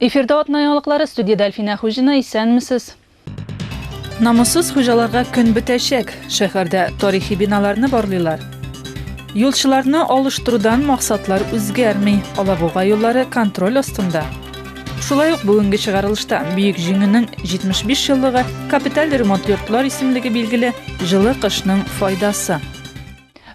Эфирда атна яңалыклары студиядә Әлфинә Хуҗина исәнмесез. Намуссыз хуҗаларга көн бетәчәк. Шәһәрдә тарихи биналарны барлыйлар. Юлчыларны алыштырудан максатлар үзгәрми. Алабуга юллары контроль астында. Шулай ук бүгенге чыгарылышта Бөек Җиңүнең 75 еллыгы капиталь ремонт йортлар исемлеге билгеле җылы кышның файдасы.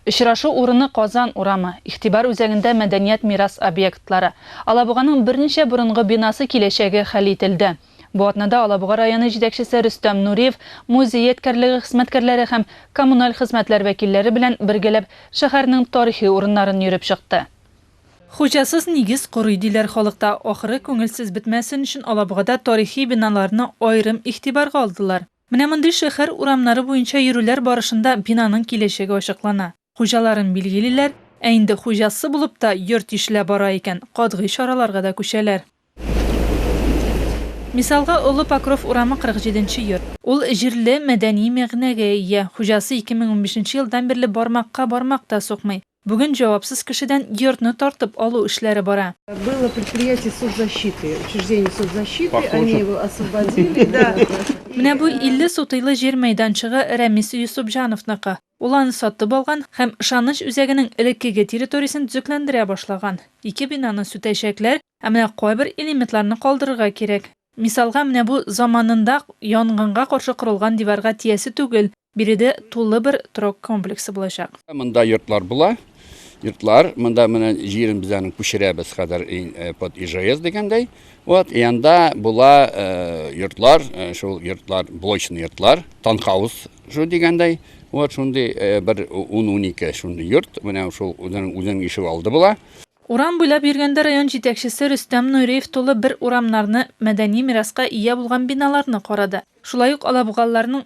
Очрашу урыны Казан урамы, Игътибар үзәгендә мәдәният мирас объектлары, Алабуганың берничә борынгы бинасы киләчәге хәл ителде. Бу атнада Алабуга районы җитәкчесе Рөстәм Нуриев музей ядкәрлеге хезмәткәрләре һәм коммуналь хезмәтләр вәкилләре белән бергәләп шәһәрнең тарихи урыннарын йөреп чыкты. Хуҗасыз нигез корый, диләр халыкта. Ахры, күңелсез бетмәсен өчен Алабугада тарихи биналарны аерым игътибарга алдылар. Менә мондый шәһәр урамнары буенча йөрүләр барышында бинаның киләчәге ачыклана, хуҗаларын билгелиләр, ә инде хуҗасы булып та йорт тишелә бара икән, катгый чараларга да күчәләр. Мисалга, Олы Покров урамы 47 нче йорт. Ул җирле мәдәни мәгънәгә ия, хуҗасы 2015 нче елдан бирле бармакка бармак та сукмый, Бүген җавапсыз кешедән йортны тартып алу эшләре бара. Было предприятие соцзащиты, учреждение соцзащиты, они его освободили, да. Менә бу 50 сутыйлы җир мәйданчыгы Рәмис Йосыпҗановныкы. Ул аны сатып алган һәм Ышаныч үзәгенең элеккеге территориясен төзекләндерә башлаган. Ике бинаны сүтәчәкләр, ә менә кайбер элементларны калдырырга кирәк. Мисалга, менә бу заманында янгынга каршы корылган диварга тиясе түгел, Биредә тулы бер торак комплексы булачак. Монда йортлар була. Йортлар, монда менә җирен без аны күчерәбез хәзер э, под ИЖС дигәндәй. Вот, и анда була э, йортлар, э, шул йортлар, блочный йортлар, танхаус шу дигәндәй. Вот шундый бер 10-12 шундый йорт, менә шул үзенең үзенең ишек алды була. Урам буйлап йөргәндә район җитәкчесе Рөстәм Нуриев тулы бер урамнарны, мәдәни мираска ия булган биналарны карады. Шулай ук алабугалыларның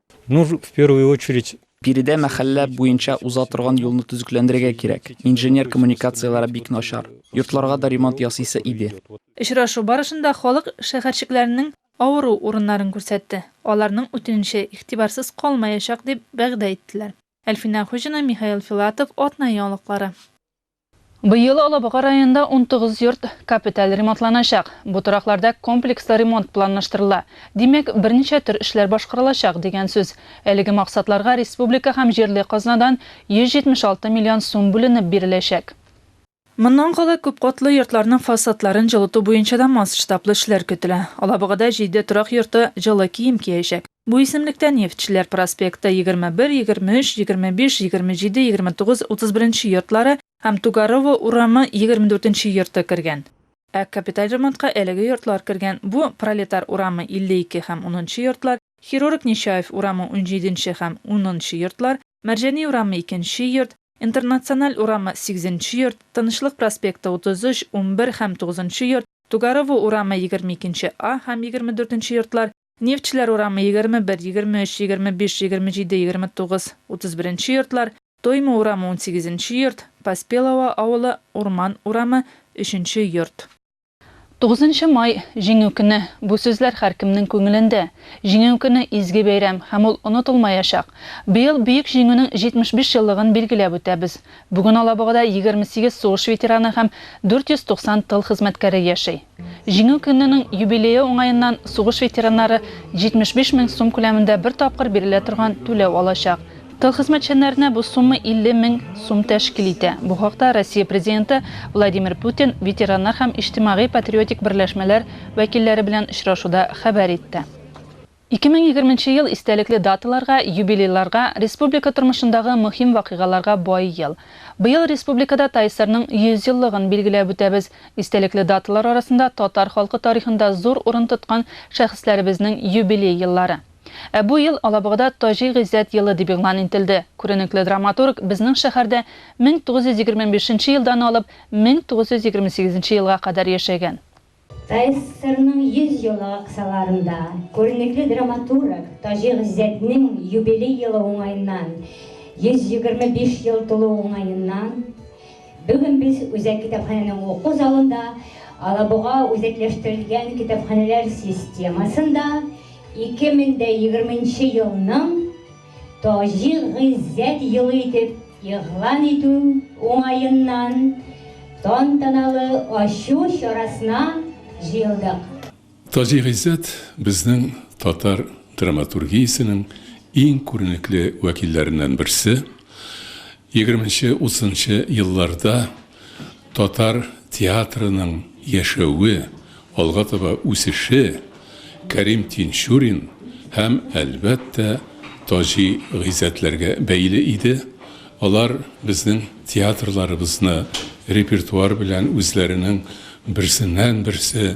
Ну, в первую очередь, Биредә мәхәллә буенча уза торган юлны төзекләндерергә кирәк, инженер коммуникацияләре бик начар. Йортларга да ремонт ясыйсы иде. Очрашу барышында халык шәһәрчекләренең авыру урыннарын күрсәтте, аларның үтенече игътибарсыз калмаячак, дип вәгъдә иттеләр. Әлфинә Хуҗина, Михаил Филатов, Атна яңалыклары. Быел Алабуга районында унтугыз йорт капиталь ремонтланачак. Бу торакларда комплекслы ремонт планлаштырыла. Димәк, берничә төр эшләр башкарылачак, дигән сүз. Әлеге максатларга республика һәм җирле казнадан 176 миллион сум бүленеп биреләчәк. Моннан кала күпкатлы йортларның фасадларын җылыту буенча да масштаблы эшләр көтелә. Алабугада җиде торак йорты җылы кием киячәк. Бу исемлектә Нефтьчеләр проспекты, 21, 23, 25, 27, 29, 31 нче йортлары һәм Тугарово урамы, 24 нче йорты кергән. Ә капиталь ремонтка әлеге йортлар кергән, бу, Пролетар урамы, 52 һәм унынчы йортлар, Хирург Нечаев урамы, унҗиде нче һәм унынчы йортлар, Мәрҗани урамы, икенче йорт, Интернациональ урамы, сигезенче йорт, Тынычлык проспекты, 33, унбер һәм тугызынчы йорт, Тугарово урамы, егерме икенче А һәм егерме дүртенче йортлар, Нефтьчеләр урамы, егерме бер, егерме өч, егерме биш, егерме җиде, егерме тугыз, утыз беренче йортлар, Тойма урамы, унсигезенче йорт, Поспелово авылы, Урман урамы, өченче йорт. Тугызынчы май, Җиңү көне. Бу сүзләр һәркемнең күңелендә. Җиңү көне, изге бәйрәм, һәм ул онытылмаячак. Быел Бөек Җиңүнең 75 еллыгын билгеләп үтәбез. Бүген Алабугада 28 сугыш ветераны һәм 490 тыл хезмәткәре яши. Җиңү көненең юбилее уңаеннан сугыш ветераннары 75 мең сум күләмендә бер тапкыр бирелә торган түләү алачак. Тыл хезмәтчәннәренә бу сумма 50 мең сум тәшкил итә. Бу хакта Россия Президенты Владимир Путин ветераннар һәм иҗтимагый-патриотик берләшмәләр вәкилләре белән очрашуда хәбәр итте. Ике мең егерменче ел истәлекле даталарга, юбилейларга, республика тормышындагы мөһим вакыйгаларга бай ел. Быел республикада ТАИСРның 100 еллыгын билгеләп үтәбез. Истәлекле даталар арасында татар халкы тарихында зур урын тоткан шәхесләребезнең юбилей еллары. Ә бу ел Алабугада Таҗи Гыйззәт елы дип игълан интелде. Күренекле драматург безнең шәһәрдә 1925 нче елдан алып 1928 нче елга кадәр яшәгән. ТССРның 100 еллыгы кысаларында күренекле драматург Таҗи Гыйззәтнең юбилей елы уңаеннан, 125 ел тулу уңаеннан, бүген без Үзәк китапханәнең уку залында Алабуга үзәкләштерелгән китапханәләр системасында 2020 елның Таҗи Гыйззәт елы итеп игълан итү уңаеннан тантаналы ачу чарасына җыелдык. Таҗи Гыйззәт, безнең татар драматургиясенең иң күренекле вәкилләреннән берсе. Егерменче-утызынчы елларда Татар театрының яшәве, алга таба үсеше Кәрим Тинчурин һәм, әлбәттә, Таҗи Гыйззәтләргә бәйле иде. Алар безнең театрларыбызны репертуар белән үзләренең берсеннән-берсе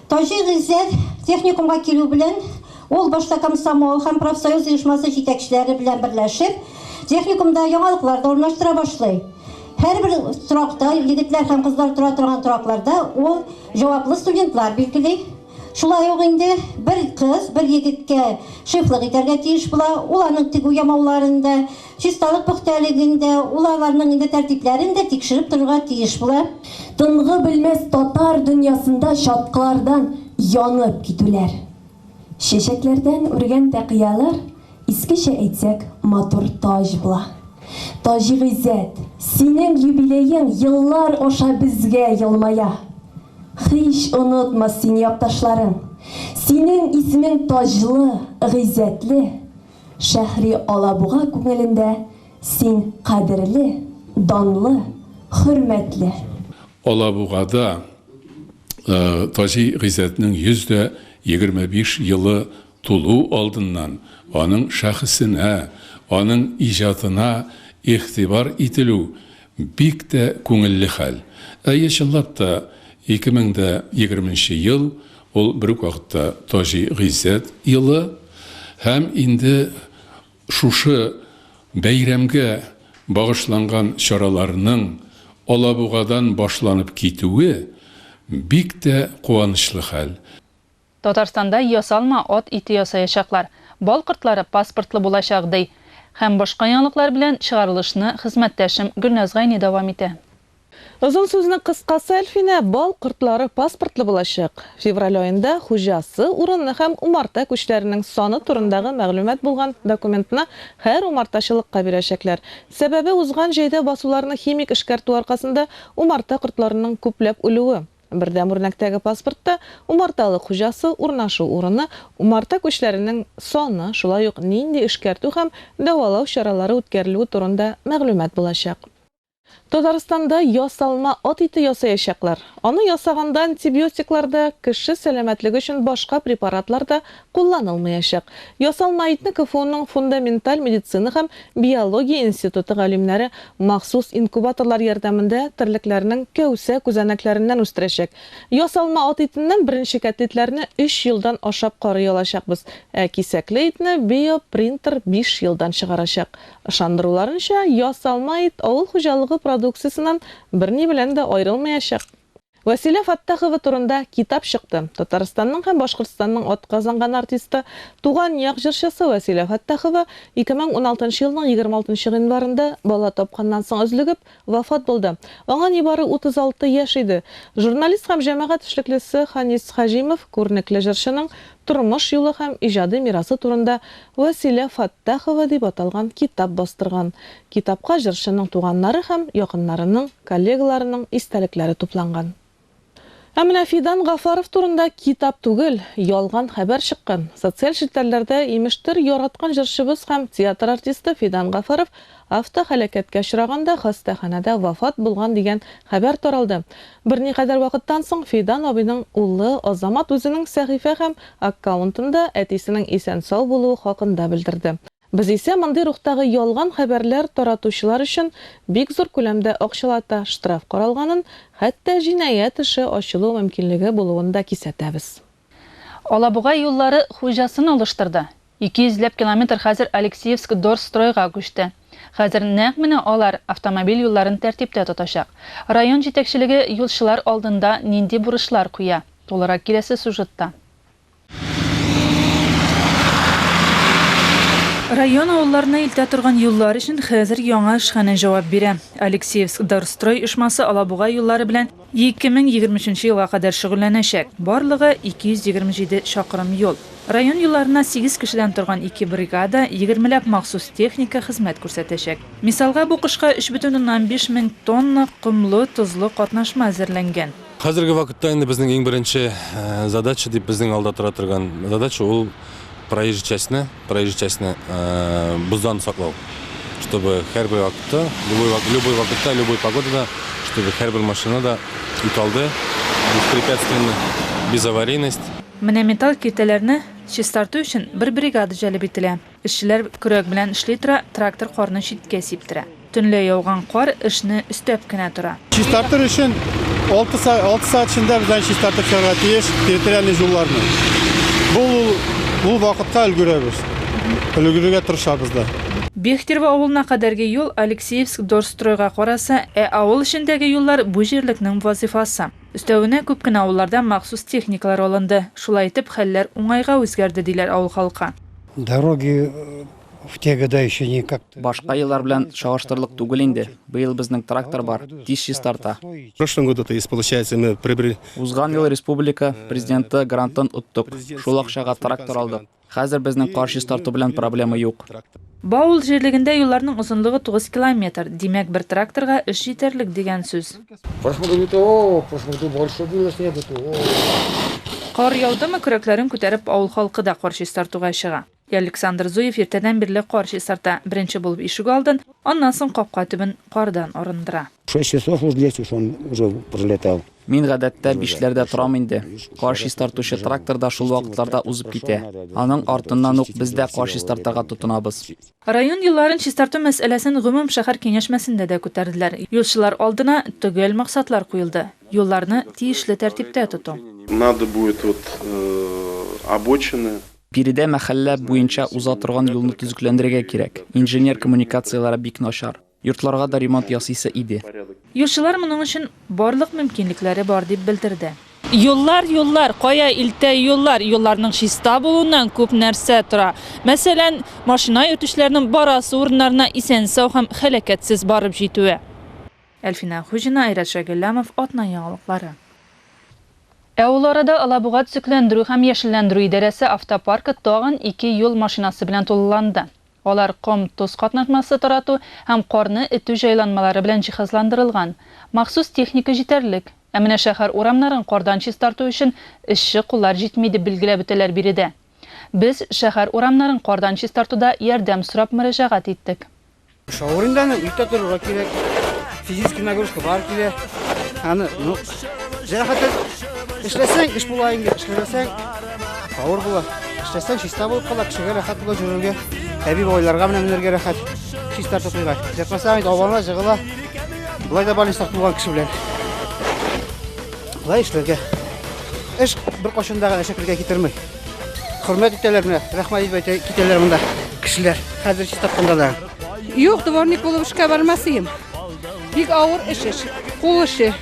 Таҗи Гыйззәт техникумга килү белән, ул башта комсомол һәм профсоюз оешмасы җитәкчеләре белән берләшеп, техникумда яңалыклар да урнаштыра башлый. Һәрбер торакта, егетләр һәм кызлар тора торган торакларда ул җаваплы студентлар билгели. Шулай ук инде бер кыз бер егеткә шефлык итәргә тиеш була, ул аның тегү-ямауларын да, Чисталык пөхтәлеген дә, ул аларның инде тәртипләрен дә тикшереп торырга тиеш була. Тынгы белмәс татар дөньясында чаткылардан янып китүләр. Чәчәкләрдән үргән тәкыялар, искечә әйтсәк, матур таҗ була. Таҗигыйззәт, синең юбилеең еллар аша безгә елмая. Һич онытмас сине якташларың. Синең исемең таҗлы, гыйззәтле. Шәһри Алабуга күңелендә син кадерле, данлы, хөрмәтле. Алабугада Таҗи Гыйззәтнең 125 елы тулу алдыннан аның шәхесенә, аның иҗатына игътибар ителү бик тә күңелле хәл. Әйе, чынлап та, 2020 нче ел Ул бер үк вакытта Таҗи Гыйззәт елы һәм инде шушы бәйрәмгә багышланган чараларның Алабугадан башланып китүе бик тә куанычлы хәл. Татарстанда ясалма ат ите ясаячаклар, бал кортлары паспортлы булачак, ди. Һәм башка яңалыклар белән чыгарылышны хезмәттәшем Гөлназ Гайни дәвам итә. Озын сүзнең кыскасы, Әлфинә, бал кортлары паспортлы булачак. Февраль аенда хуҗасы, урыны һәм умарта күчләренең саны турындагы мәгълүмат булган документны һәр умартачылыкка бирәчәкләр. Сәбәбе, узган җәйдә басуларны химик эшкәртү аркасында умарта кортларының күпләп үлүе. Бердәм үрнәктәге паспортта умарталык хуҗасы, урнашу урыны, умарта күчләренең саны, шулай ук нинди эшкәртү һәм дәвалау чаралары үткәрелүе турында мәгълүмат булачак. Татарстанда ясалма ат ите ясаячаклар. Аны ясаганда антибиотиклар да, кеше сәламәтлеге өчен башка препаратлар да кулланылмаячак. Ясалма итне КФУның фундаменталь медицина һәм биология институты галимнәре махсус инкубаторлар ярдәмендә терлекләрнең кәүсә күзәнәкләреннән үстерәчәк. Ясалма ат итеннән беренче кәтлитләрне өч елдан ашап карый алачакбыз, ә кисәкле итне биопринтер биш елдан чыгарачак. Ышандыруларынча, ясалма ит авыл хуҗалыгы продукциясеннән берни белән дә аерылмаячак. Вәсилә Фаттахова турында китап чыкты. Татарстанның һәм Башкортстанның атказанган артисты, туган як җырчысы Вәсилә Фаттахова 2016 елның 26 гыйнварында бала тапканнан соң өзлегеп, Вафат булды. Аңа нибары 36 яшь иде. Журналист һәм җәмәгать эшлеклесе Ханис Хаҗимов күренекле җырчының тормыш юлы һәм иҗади мирасы турында Вәсилә Фәттахова дип аталган китап бастырган. Китапка җырчының туганнары һәм якыннарының, коллегаларының истәлекләре тупланган. Ә менә Фидан Гафаров турында китап түгел, ялган хәбәр чыккан. Социаль челтәрләрдә, имештер, яраткан җырчыбыз һәм театр артисты Фидан Гафаров автоһәлакәткә очраганда хастаханәдә вафат булган дигән хәбәр таралды. Берникадәр вакыттан соң Фидан абыйның улы Азамат үзенең сәхифә һәм аккаунтында әтисенең исән-сау булуы хакында белдерде. Без исә мондый рухтагы ялган хәбәрләр таратучылар өчен бик зур күләмдә акчалата штраф каралганын, хәтта җинаять эше ачылу мөмкинлеге булуын да кисәтәбез. Алабуга юллары хуҗасын алыштырды. Ике йөзләп километр хәзер Алексеевск-Дорстройга күчте. Хәзер нәкъ менә алар автомобиль юлларын тәртиптә тотачак. Район җитәкчелеге юлчылар алдында нинди бурычлар куя, тулырак киләсе сюжетта. Район авылларына илтә торган юллар өчен хәзер яңа эшханә җавап бирә. Алексеевск Дорстрой оешмасы Алабуга юллары белән 2023 елга кадәр шөгыльләнәчәк. Барлыгы 227 чакрым юл. Район юлларына сигез кешедән торган ике бригада, егермеләп махсус техника хезмәт күрсәтәчәк. Мисалга, бу кышка 3,5 мең тонна комлы, тозлы катнашма әзерләнгән. Хәзерге вакытта инде безнең иң беренче задача дип безнең алда тора торган задача ул проезжий частьне, проезжий частьне боздан саклау. Чтобы һәрбер вакытта, любой, любой вакытта, любой погодада, чтобы һәрбер машина да икалды, беспрепятственно, без аварийность. Менә металл киртәләрне чистарту өчен бер бригада җәлеп ителә. Эшчеләр көрәк белән эшли тора, трактор карны читкә сиптерә. Төнлә яуган кар эшне өстәп кенә тора. Чистартыр өчен алты сәгать эчендә без аны чистартып чыгарга тиеш территориальный җулларны. Бу ул вакытка өлгерәбез, өлгерергә тырышабыз да. Бехтерево авылына кадәрге юл Алексеевск-Дорстройга караса, ә авыл эчендәге юллар бу җирлекнең вазыйфасы. Өстәвенә, күп кенә авылларда махсус техникалар алынды. Шулай итеп, хәлләр уңайга үзгәрде, диләр авыл халкы. Дороги в те года еще никак. Башка еллар белән чагыштырырлык түгел инде. Быел безнең трактор бар, тиз чистарта. В прошлом году то есть получается мы приобрели. Узган ел республика Президенты грантын оттык, шул акчага трактор алдык. Хәзер безнең кар чистарту белән проблема юк. Баул җирлегендә юлларның озынлыгы тугыз километр, димәк, бер тракторга эш җитәрлек дигән сүз. Кар яудымы, көрәкләрен күтәреп, авыл халкы да кар чистартуга чыга. Ялександр Зуев иртәдән бирле кар чистарта, беренче булып ишегалдын, аннан соң капка төбен кардан арындыра. Шесть часов уж здесь уж он уже пролетал. Мин гадәттә бишләрдә торам инде. Кар чистартучы трактор да шул вакытларда узып китә. Аның артыннан ук без дә кар чистартырга тотынабыз. Район юлларын чистарту мәсьәләсен гомум шәһәр киңәшмәсендә дә күтәрделәр. Юлчылар алдына төгәл максатлар куелды, юлларны тиешле тәртиптә тоту. Надо будет вот обочины. Биредә мәхәллә буенча уза торган юлны төзекләндерергә кирәк, инженер коммуникацияләре бик начар. Йортларга да ремонт ясыйсы иде. Юлчылар моның өчен барлык мөмкинлекләре бар, дип белдерде. Юллар, юллар, кая илтә юллар? Юлларның чиста булуыннан күп нәрсә тора. Мәсәлән, машина йөртүчеләрнең барасы урыннарына исән-сау һәм һәлакәтсез барып җитүе. Әлфинә Хуҗина, Айрат Шәйгөлләмов, Атна яңалыклары. Ә ул арада Алабуга төзекләндерү һәм яшелләндерү идарәсе автопаркы тагын ике юл машинасы белән тулыланды. Алар ком-тоз катнашмасы тарату һәм карны этү җайланмалары белән җиһазландырылган. Махсус техника җитәрлек. Ә менә шәһәр урамнарын кардан чистарту өчен эшче куллар җитми, дип билгеләп үтәләр биредә. Без шәһәр урамнарын кардан чистартуда ярдәм сорап мөрәҗәгать иттек. Шауринда аны иртә торырга кирәк. Физический нагрузка бар килә. Аны, ну, җәрәхәтсез эшләсәң, эш була инде, эшләмәсәң, Авыр була. Эшләсәң, чиста булып кала, кешегә рәхәт була җөрергә. Әби бабайларга менә менергә рәхәт. Чиста тотуга. Җырпаса инде авырла, җыгыла. Болай да балин сак булган кеше белән. Болай эшләргә. Эш бер кашында гына шәкергә китермей. Хөрмәт итәләр менә, рәхмәт итеп әйтә китәләр монда кешеләр. Хәзер чиста кында да. Юк, дворник булып эшкә бармас идем. Бик авыр эш эш. Кул эше.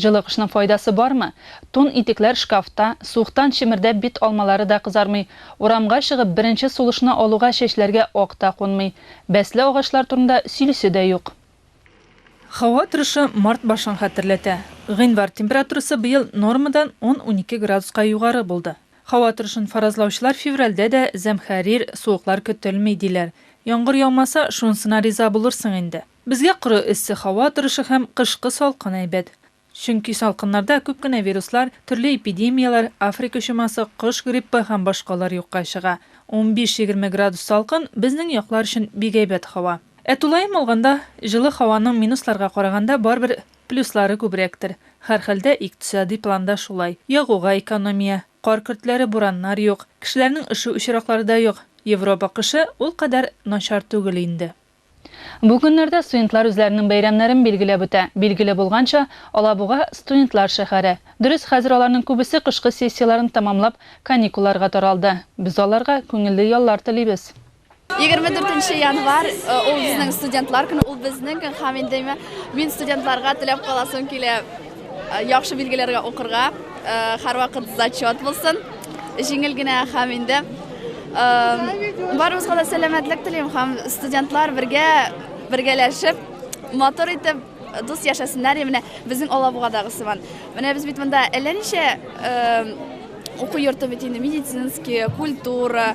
Җылы кышның файдасы бармы? Тун-итекләр шкафта, суыктан чемердәп бит алмалары да кызармый, урамга чыгып беренче сулышны алуга чәчләргә ак та кунмый. Бәсле агачлар турында сөйлисе дә юк. Һава торышы март башын хәтерләтә. Гыйнвар температурасы быел нормадан ун-унике градуска югары булды. Һава торышын фаразлаучылар февральдә дә зәмхәрир суыклар көтелми, диләр. Яңгыр яумаса, шунысына риза булырсың инде. Безгә коры эссе һава торышы һәм кышкы салкын әйбәт. Чөнки салкыннарда күп кенә вируслар, төрле эпидемияләр, Африка чумасы, кош гриппы һәм башкалар юкка чыга. Унбиш-егерме градус салкын, безнең яклар өчен бик әйбәт һава. Ә тулаем алганда, җылы һаваның минусларга караганда барыбер плюслары күбрәктер. Һәрхәлдә, икътисади планда шулай. Ягуга экономия, кар көртләре, бураннар юк, кешеләрнең өшү очраклары да юк. Европа кышы ул кадәр начар түгел инде. Бу көннәрдә студентлар үзләренең бәйрәмнәрен билгеләп үтә. Билгеле булганча, Алабуга, студентлар шәһәре. Дөрес, хәзер аларның күбесе кышкы сессияләрен тәмамлап, каникулларга таралды. Без аларга күңелле яллар телибез. Егерме дүртенче январь, ул безнең студентлар көне, ул безнең көн һәм инде мин студентларга теләп каласым килә. Яхшы билгеләргә укырга, һәрвакыт зачет булсын. Җиңел генә һәм инде барыбызга да сәламәтлек телим һәм студентлар бергә бергәләшеп матур итеп дус яшәсеннәр менә безнең алабугадагы сыман менә без бит монда әллә ничә уку йорты бит инде медицинский культура